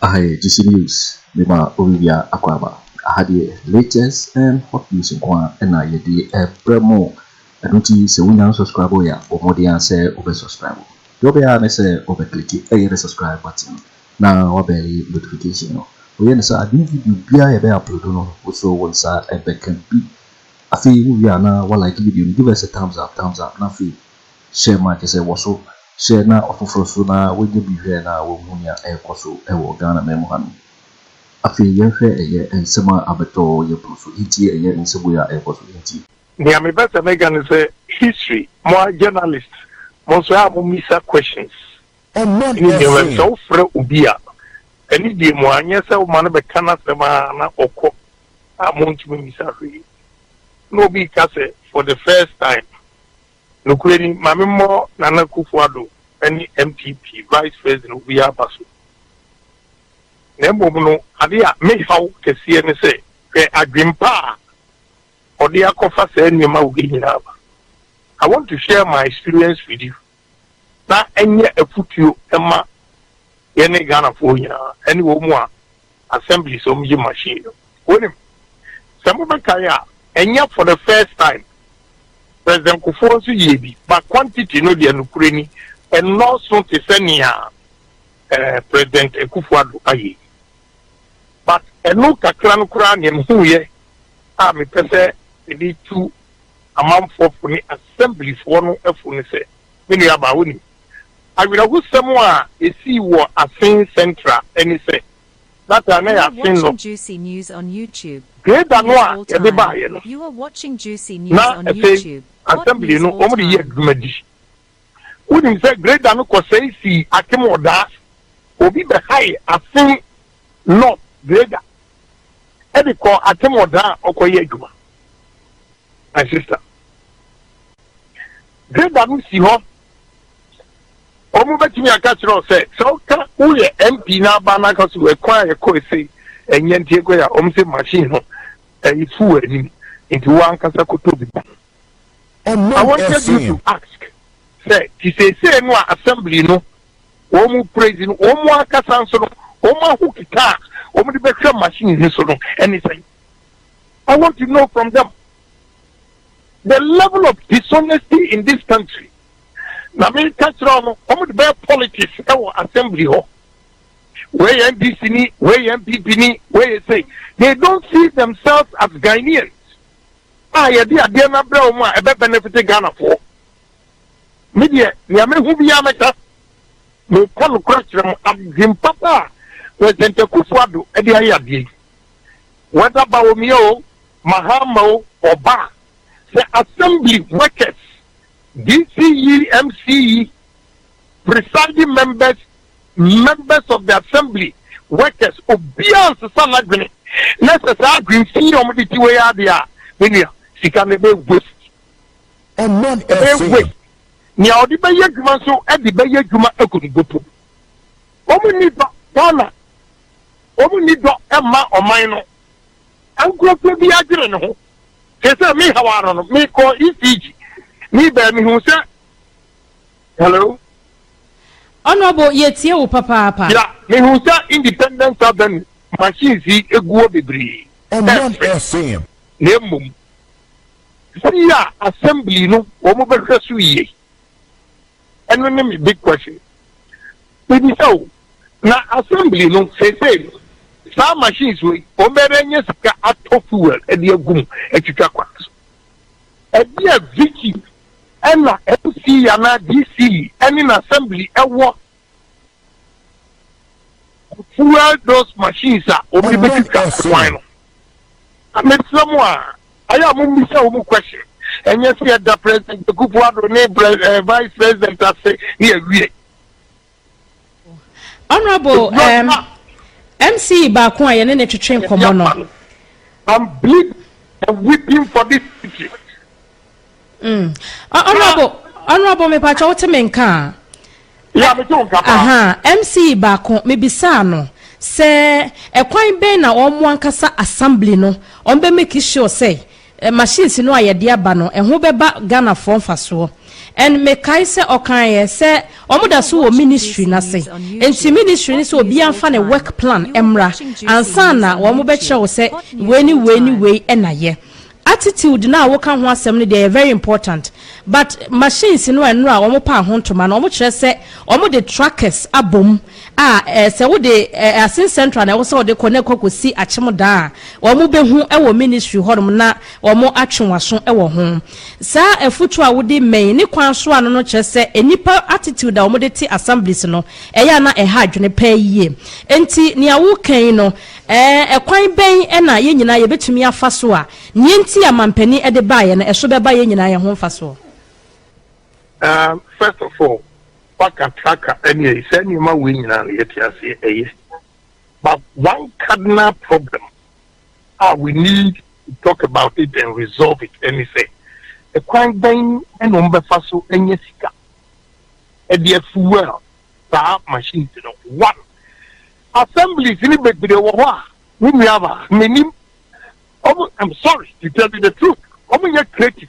Aha yɛ GC News de ma Olivia Akwaba. Aha deɛ latest and hot news nko ara na yɛde rebrɛ mo. Ɛno nti sɛ wonya unsubscribe yɛ a bɔ mmɔden ara sɛ wobɛ subscribe. Deɛ wobɛyɛ ara ne sɛ wobɛ click ɛyɛ the subscribe button no na wabɛli notification no. Woyɛ no saa a new video biara a yɛbɛ upload no wo nso wo nsa bɛka bi. Afei wo wie a na wa like video no, give us a thumbs up, thumbs up, na afei share ma kyerɛ sɛ wɔ so share na ɔfoforɔ nso na wanya bi hwɛ na wahu nea ɛrekɔ so wɔ Ghana man mu hanom. Afei yɛnhwɛ ɛyɛ nsɛm a abɛtɔ yɛn pono so nti ɛyɛ nsɛm wei a ɛrekɔ so nti. Nea me pɛ sɛ me ka ne sɛ history mo ara journalist mo nso a mo misa questions ɛne nneɛma bi sɛ wo frɛ obi a ɛne die mo anyɛ sɛ wo ma no bɛka n'asɛm a na ɔkɔ a mo ntumi misa hwee na obi ka sɛ for the first time nokura ni ma me mmɔ nana kufu ado ɛne mpp vice president obi aba so na mmom no ade a me haw kɛseɛ ne sɛ hwɛ adwempa a Ɔde akɔfa saa nneɛma wei nyinaa aba. I want to share my experience with you na ɛnyɛ afutuo ɛma yɛne Ghanafoɔ nyinaa ɛne wɔn mu a assemblies wɔn gye machine no. Wonim, sɛ mobɛkae a, ɛnyɛ for the first time President Kufuor nso yɛɛ bi, but quantity no deɛ nokorɛ ni ɛnnɔɔso te sɛ nea eh, President Akufo-Addo ayɛ yi. But ɛno kakra no koraa neɛ mehuuiɛ a mepɛ sɛ mede tu amanfoɔ fo ne Assembly foɔ no fo ne sɛ, me nua baa wonim, awerɛhosɛm a ɛsii wɔ Asen Central ne sɛ, that time na ɛyɛ Asen North, grader no a yɛde baeɛ no, na ɛsɛ Assembly no wɔde yɛ adwuma bi. Wonim sɛ grader no kɔsɛe sii atemɔdaa. Obi bɛhae asen North grader de kɔɔ atemɔdaa a ɔkɔyɛ adwuma. My sister. Grader no si hɔ. Wɔbɛtumi aka kyerɛ wo sɛ, sɛ woka woyɛ MP na aba na aka so ɛkwan a yɛkɔ ese ɛnyɛ nti yɛkɔyɛ a, wɔn se machine no ɛrefu wɔ anim nti wo ankasa kɔtɔ bi ma no. I wanted you to ask sɛ te seesei no a assembly no wɔn mu praise no wɔn mu ankasa nso no wɔn ahoki ka a wɔn de bɛhwɛ machine no so no ɛne sɛn I want to know from them the level of dishonesty in this country na me ka kyerɛ no wɔn de bɛyɛ politics ɛwɔ assembly hɔ wei yɛ ndc ni wei yɛ npp ni wei yɛ sɛ they don't see themselves as ghanaians a yɛde adeɛ no abrɛ wɔn a ɛbɛ benefit Ghana foɔ. Me deɛ nea me hu biara mɛka. Me ka nokorɛ kyerɛ mo adwen papa a President Akufo Addo ɛde ayɛ adeɛ yi whether Bawumia o, Mahama o, ɔba a sɛ assembly workers, DC yi, MC yi, presiding members, members of the assembly, workers, obiara nsesa n'adwene na sɛ saa adwene fi yi a wɔde ti wei ara deɛ a, me nua, sika no ɛbɛyɛ waste. Ɛmmɔ no ɛbɛyɛ ɛfee. waste. Nea wɔde bɛyɛ adwuma nso de bɛyɛ adwuma agu no dopo. Wɔn nni dɔ Ghana, wɔn nni dɔ mma ɔman no. Nkurɔfoɔ bi adwene ne ho. Te sɛ me hawa no no, mekɔ ECG, me baa mehu sɛ Hello. Honourable yɛtie wo papaapa. Ya mehu sɛ Independence Avenue machines yi egu hɔ bebree. Ɛmfrɛ fam. Na mmom si a assembly no wɔn bɛhwɛ so yie. Ɛno ne me big question. Mebisa o na assembly no seesei no saa machines wei wɔn bɛyɛ nye sika atɔ fuel ɛde agu mu atwitwa kwan so. Ɛdeɛ Vicky Ɛna NC anaa DC ɛne n'assembly ɛwɔ fuel those machines a wɔn de bɛtwitwa kwan no. Na mesrɛ mo a, ayɛ a mommisa wɔn question. Ɛnyɛ sɛ yɛda President Akufo-Addo ne eh, Vice President ase ne yɛwie. honourable um, mc baako a yɛne ne twetwe nkɔmmɔ no I'm bleeding and weeping for this city. Mm. Uh, honorable, honorable, me pacha wote me nka. Ya me to nka. Aha, MC baako me bisa no. Sɛ ɛkwan bɛn na wɔn ankasa assembly no wɔn bɛ make sure sɛ machines no a yɛde aba no ɛho bɛba Ghanafoɔ mfasoɔ and mekae sɛ ɔkaeɛ sɛ wɔn da so wɔ ministry no ase nti ministry no sɛ obiara mfa ne work plan mmra ansa na wɔn bɛkyerɛ wo sɛ wei ne wei ne wei na yɛ. Attitude no a woka ho asɛm no deɛ ɛyɛ very important but machines no a nnora wɔn paa ho ntoma no wɔkyerɛ sɛ wɔde trackers abom a sɛ wode Asin Central na ɛwɔ sɛ wɔde kɔ na ɛkɔ kɔsi Akyem Dan a, wɔbɛhu wɔ ministry hɔnom na wɔatwe w'aso wɔ ho. Saa afutuo a wode mmɛn ne kwan so ano no kyerɛ sɛ nnipa attitude a wɔde te assemblies no, ɛyɛ a na ɛha adwene paa yie. Enti nea woreka yi no, ɛkwan bɛn na yɛn nyinaa yɛbɛtumi afa so a nea enti a mampanin de baeɛ no, ɛso bɛba yɛn nyinaa yɛn ho mfasoɔ? First of all, Waka traka ɛne ayi saa nneɛma wei nyinaa no yɛte aseɛ ɛyɛ but one cardinal problem a we need to talk about it and resolve it ɛne sɛ ɛkwan bɛn ɛna wɔn bɛfa so ɛnyɛ sika ɛde afuwɛl saa machine ti no one assemblies ne bebree wɔ hɔ a ne nua ba menim ɔmo i'm sorry to tell you the truth ɔmo nyɛ creative.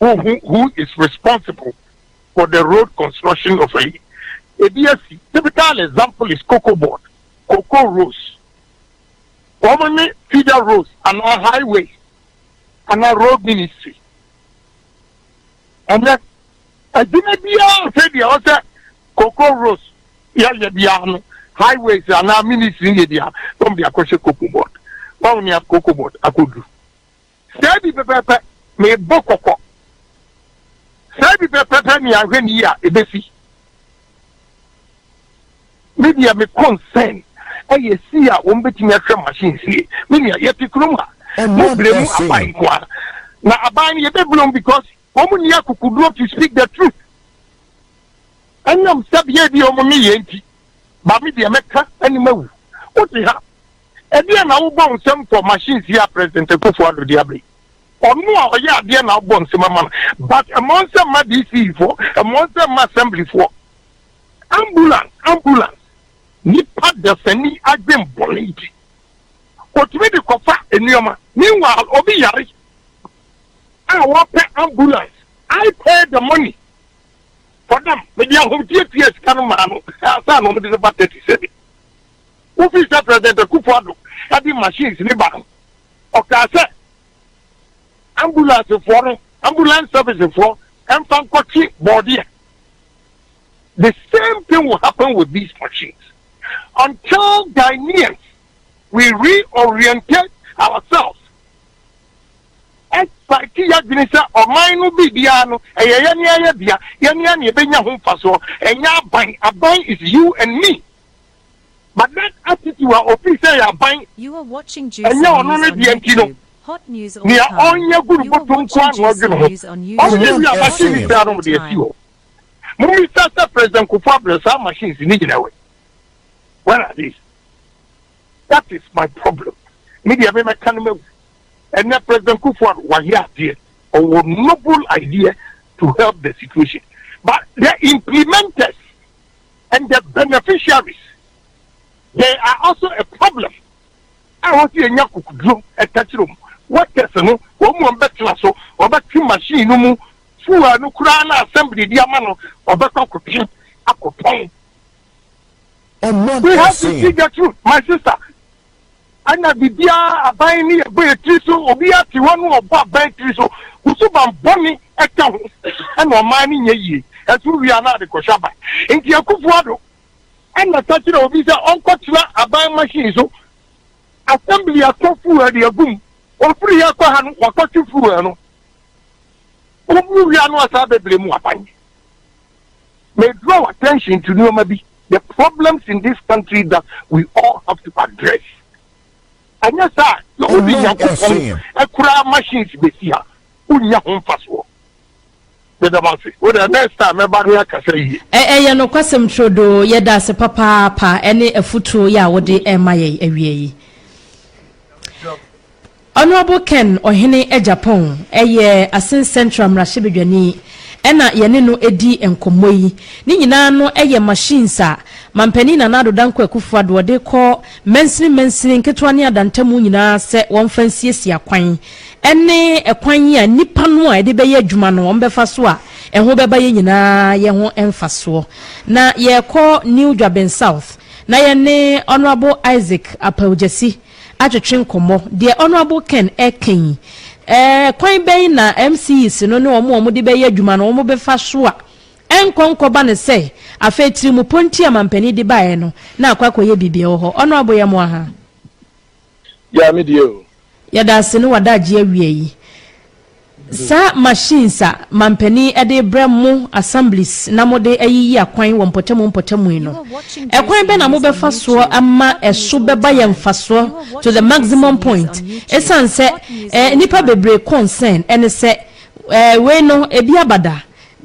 who who who is responsible for the road construction of ayi ebi asi typical example is cocoa board cocoa rows wɔn ne feeder rows anaa highway anaa road ministry ɛnɛ adwuma biara sɛ deɛ ɔsɛ cocoa rows yɛyɛ biara no highways anaa ministry yɛ biara wɔn de akɔhyɛ cocoa board wɔn ne cocoa board akɔduru. Saa bi pɛpɛɛpɛ, mebɔ kɔkɔ. Saa bi pɛpɛɛpɛ ne ahwɛne yi a ɛbɛsi. Me deɛ me concern ɛyɛ si a wɔn bɛtumi ahwɛ machines yi. Me nua yɛte kurom a, mo blame mu aban nko ara. Na aban no yɛbɛ blame because wɔn nni akokoduo to speak the truth. Ɛnam sɛbea bi a wɔn nyɛ yɛn nti, ba me deɛ mɛka ne mawu. Wote ha. Ɛdeɛn na wobɔ nsɛm fɔ machines yi a President Akuffo Addo de aba yi? Ɔno a ɔyɛ adeɛ na wobɔ nsɛm ma no but mmɔ nsɛm mma DC foɔ, mmɔ nsɛm mma Assembly foɔ. Ambulance, ambulance. Nipa dasani adwen bɔne nti ɔtumi de kɔfa nneɛma meanwhile obi yare a ɔpɛ ambulance I pay the money for them mede ahomteɛ tuaa sika no maa no ansa na ɔmo de no ba taxi sɛbi. Wofii sɛ President Akufo Addo de machines no ba no, ɔkaa sɛ ambulansefɔɔ no, ambulance servicefɔɔ, mfa nkɔkye bɔɔdeɛ. The same thing will happen with these machines until Ghanaians we reoriented ourselves. Ɛsite yɛadwene sɛ ɔman no biribiara no ɛyɛ yɛne ayɛ dea, yɛne a na yɛbɛnya ho mfasoɔ, ɛnyɛ aban. Aban is you and me. But that attitude a ofii sɛ ɛyɛ aban, ɛnyɛ ɔno no deɛ nti no, nea ɔnyɛ gu no bɔtɔ nko ara na ɔdwene ho. Ɔnyɛ wie a, machine no nyinaa no wɔde asi hɔ. Mommisa sɛ President Kufuor abrɛ saa machines no nyinaa wɛn? Where are they? That is my problem. Me deɛ memɛka no mawu. Ɛnɛ President Kufuor wayɛ adeɛ. Ɔwɔ noble idea to help the situation. But the implementers and the beneficiaries there are also a problem a ɛwɔ sɛ yɛnya kukuduro ɛtakyerɛ mu workers no wɔn mu wɔn bɛtena so wɔbɛte machine no mu fuel no koraa na assembly di ama no wɔbɛkɔ akɔtwe akɔtɔn we have to see the truth my sister. Ɛna biribiara aban ne yɛbɔ yɛn tiri so, obiara te hɔ ne ɔbɔ aban tiri so, wo suban bɔne ka ho, ɛna ɔman no nyɛ yie, ɛso wie a na ade kɔhwɛ aba. Nti Akufo Addo ɛna ka kyerɛ obi sɛ ɔnkɔ tena aban machine so, assembly atɔ fuel de agu mu, ɔfiri yɛ kɔ ha no wakɔtwe fuel no, ɔmu wie a na wasan abɛbrɛ mu aban. May draw attention to nneɛma bi, the problems in this country that we all have to address. Ɛnyɛ saa a, na wode Nyankopɔn koraa machines bɛsi ha, wonnya ho mfasoɔ. Meda mo ase. Wo dɛ next time mɛba ne akasa yie. Ɛyɛ nokwasɛm turodoo. Yɛda ase papaapa ne afutuo yi a wode rema yɛn awia yi. Honourable Ken Ɔhene Agyapong yɛ Asin Central mmarahyɛbadwani na yɛne no redi nkɔmmɔ yi. Ne nyinaa no yɛ machines a Mampanin Nana Addo Dankwa Akufo-Addo ɔde rekɔ mansini mansini, nketewa ne adantamu nyinaa sɛ wɔmfa nsiesie akwan ne kwan a nnipa no a yɛde bɛyɛ adwuma no wɔbɛfa so a ɛho bɛba yɛn nyinaa yɛ ho mfasoɔ. Na yɛrekɔ New Dwaben South na yɛne Honourable Isaac Apaogyasi atwetwe nkɔmmɔ. Deɛ Honourable Ken reka yi, eh, kwan bɛn na MCEs no ne wɔn a wɔde bɛyɛ adwuma no wɔbɛfa so a ɛnkɔ nkɔba no sɛ afei tirimupɔ nti a mampanin de baeɛ no na akɔ akɔyɛ biribi wɔ hɔ? Honourable yɛ mo aha. Gyaa me deɛ o. Yɛda ase ne w'adagyeɛ awia yi. Saa machines a mampanin de rebrɛ mo assemblies na mode ayiyi akwan wɔ mpɔtamu mpɔtamu yi no, ɛkwan bɛn na mobɛfa soɔ ama ɛso bɛba yɛn mfasoɔ to the maximum point? Ɛsiane sɛ eh, nnipa bebree concern ne sɛ eh, wei no ebi aba da.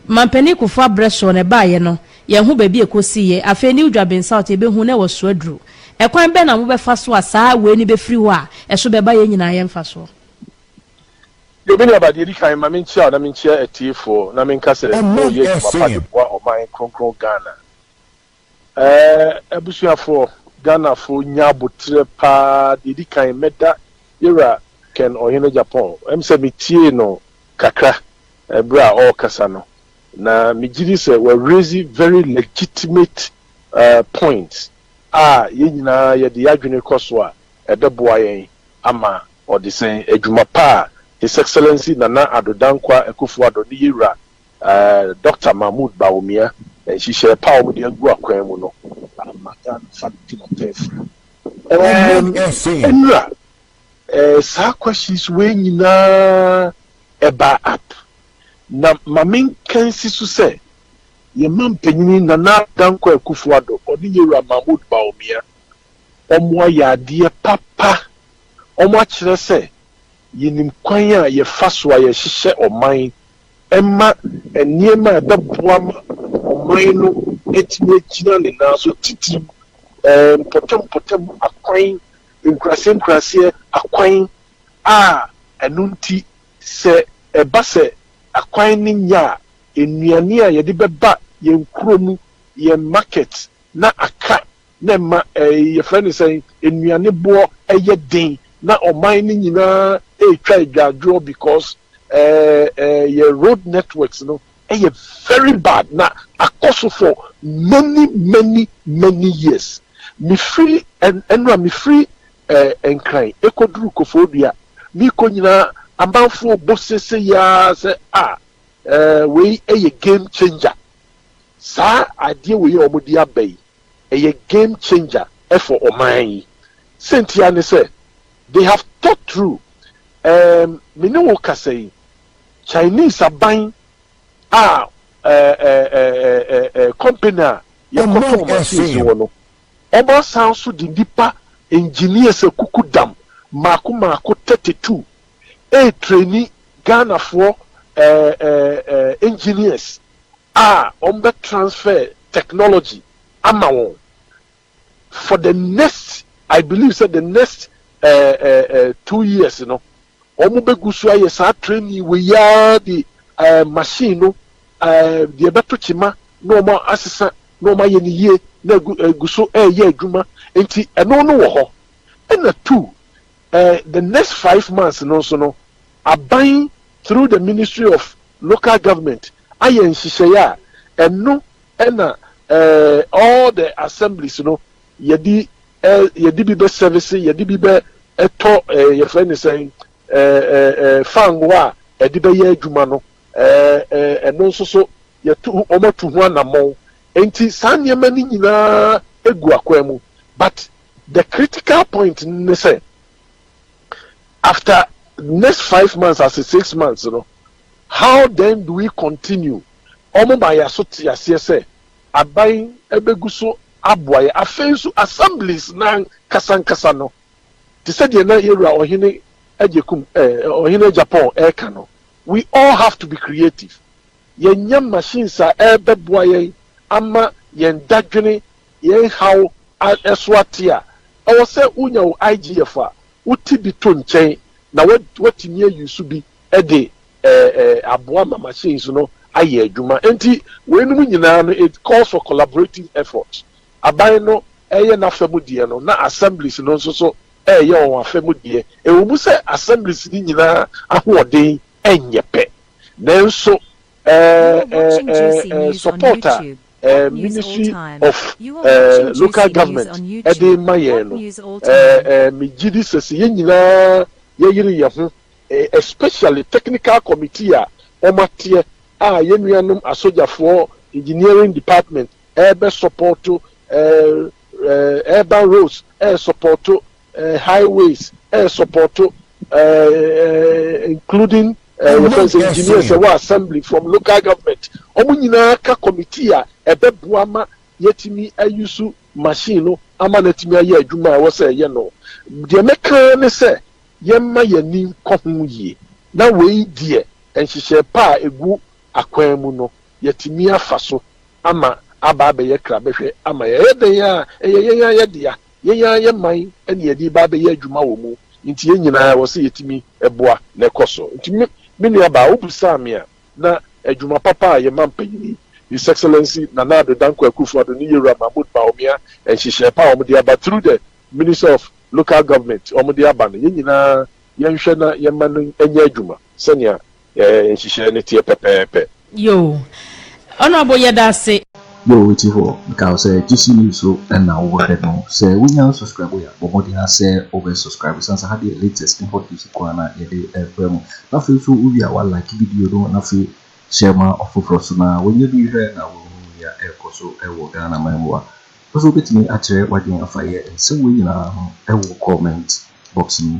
Mampanin Kufuor abrɛ soɔ no ɛbaeɛ no, yɛn ho baabi a ɛkɔsiiɛ. Afei New Dwabin South yɛbɛhu na ɛwɔ so aduru. Ɛkwan bɛn na mobɛfa so a saa wei no bɛfiri hɔ a ɛso bɛba yɛn nyinaa yɛn mfasoɔ? Yo, me nuaba, deɛ ɛdi kan, ma menkyia wo na menkyia atiefoɔ na menka sɛ moyɛ adwuma pa de boa ɔman kronkron Ghana. Abusuafoɔ, Ghanafoɔ nya aboterɛ pa ara, deɛ ɛdi kan, mɛda Yɛwura Ken Ɔhene Agyapong, ɛm sɛ metiee no kakra berɛ a ɔrekasa no, na megye di sɛ wa raise very legitimate points a yɛn nyinaa yɛde yɛn adwene kɔ so a, ɛbɛboa yɛn ama Ɔde sɛ adwuma pa a His Excellency Nana Addo Dankwa Akufo-Addo ne Yewura Dɔkta Mahmood Bawumia nhyehyɛɛ pa a wɔde agu akwan mu no ama Ghana fa no di n'apɛɛfua. Ɛɛm Nnura, saa questions wei nyinaa ɛbaa up na ma menka nsi so sɛ yɛn mampanyini Nana Addo Dankwa Akufo-Addo ɔne Yewura Mahmood Bawumia wɔayɛ adeɛ papa. wɔakyerɛ sɛ yenim kwan a yɛfa so a yɛhyehyɛ ɔman ma nneɛma a ɛbɛboa ma ɔman no atumi agyina ne nan so, titiriw mpɔtam-mpɔtam akwan, nkuraase-nkuraase akwan, a ɛno nti sɛ ɛba sɛ akwan no nyɛ a, nnuane a yɛde bɛba yɛn kurom, yɛn market, na aka na ɛma ɛɛ yɛfrɛ no sɛn, nnuane boɔ yɛ den na ɔman no nyinaa ɛretwa adwadwoɔ because ɛɛ ɛɛ yɛ road networks no yɛ very bad na akɔ so for many many many years. Mefiri ɛn ɛnora mefiri ɛɛ Nkran ɛkɔduru Kofoɔdua merekɔ nyinaa amanfoɔ bɔ seisei ara sɛ ah ɛɛ wei yɛ game changer saa adeɛ wei a wɔde aba yi. ɛyɛ game changer for ɔman yi sɛ ntia ne sɛ they have thought through ɛɛm me ne wo kasa yi Chinese aban a ɛɛɛɛɛɛɛ company a yɛkɔtɔn machines wɔ no ɔmo asan nso de nnipa engineers akuku dam mmaako mmaako thirty two ɛɛtraini Ghanafoɔ ɛɛɛɛɛɛ engineers. a wɔn bɛ transfer technology ama wɔn for the next I believe sɛ the next two years no wɔn bɛ gu so ayɛ saa training wei yi ara de machine no deɛ ɛbɛto kyema na wɔn asesa na wɔn ayɛ ne yie na egu so ɛreyɛ adwuma nti ɛno no wɔ hɔ ɛna two Eh, the next five months no nso no, aban through the Ministry of Local Government ayɛ nhyehyɛeɛ a ɛno na eh, all the assemblies no yɛde eh, yɛde bi bɛ service, yɛde bi bɛ ɛtɔ eh, yɛfrɛ ne sɛn eh, eh, eh, fango a ɛde bɛyɛ adwuma no eh, eh, ɛno nso so yɛtu wɔatu ho anammɔn nti saa nneɛma no nyinaa egu akwan mu but The critical point no ne sɛ, after next five months ase six months no, how then do we continue? Wɔn ma yɛn so te aseɛ sɛ aban bɛgu so aboa yɛn. Afei nso assemblies no ankasankasa no, te sɛ deɛ na yɛn Wura Ɔhene Agyekum, eh, Ɔhene Agyapong reka no, we all have to be creative. Yɛnyɛ machines a ɛbɛboa yɛn ama yɛn dadwene Yɛn haw a ɛso ate a ɛwɔ sɛ wunya wo IGF a wote bi to nkyɛn na woatumi ayi so bi de aboa ma machines no ayɛ adwuma. Enti weinom nyinaa no, it calls for collaborative efforts. Aban no reyɛ n'afa mu deɛ no na assemblies no nso so reyɛ wɔn afa mu deɛ. Ɛwɔ mu sɛ assemblies no nyinaa ahoɔden nyɛ pɛ nanso support a. eh ministry of eh local government ɛde ma yɛn no eh eh me gye di sɛ sɛ yɛn nyinaa yɛ yere yɛn ho eh especially technical committee a wɔn ateɛ a yɛn nuanom asogyafoɔ engineering department ɛɛbɛ supporto eh eh urban roads ɛɛ supporto eh, highways eh, sɔpɔto eh, including eh, yɛfrɛ no sɛ engineers ɛwɔ assembly from local government wɔn nyinaa ka committee a ɛbɛboa ma yɛtumi ayi so machine no ama no atumi ayɛ adwuma a ɛwɔ sɛ ɛyɛ no deɛ mɛka ne sɛ yɛmma yɛni nkɔ ho yie na wei deɛ nhyehyɛ pa a ɛgu akwan mu no yɛtumi afa so ama aba abɛyɛ krabɛhwɛ ama yɛyɛ dɛn a ɛyɛ yɛn ayɛ dea Yɛn ara yɛn man na yɛde reba abɛyɛ adwuma wɔ mu, nti yɛn nyinaa ɛwɔ sɛ yɛtumi boa na ɛkɔ so. Nti me me nuabaa, wobisaa me a, na adwuma papa a yɛn man panyin, His Excellency Nana Addo Dankwa Akufo-Addo ne Yewura Mahmood Bawumia nhyehyɛe pa a wɔde aba through the Minister of Local Government wɔde aba no, yɛn nyinaa yɛnhwɛ na yɛmma no nyɛ adwuma. Sɛnea yɛn nhyehyɛe no teɛ pɛpɛɛpɛ. Yoo. Honourable yɛda ase. Yoo woti hɔ nka wo sɛ gyesi news so na wo hwɛ no sɛ wo nya subscribe wo ya bɔ mmɔden ara sɛ wo bɛ subscribe ɛsan sɛ ha deɛ latest ne hot news nkoaa na yɛde brɛ mo na afei nso wo wie a wa like video no na afei share ma ɔfoforɔ nso na wa nya bi hwɛ na wa hunu nea ɛrekɔ so wɔ Ghana man mu a nso wo bɛtumi akyerɛ wadwene afa yɛ nsɛm wei nyinaa ho wɔ comment box mu.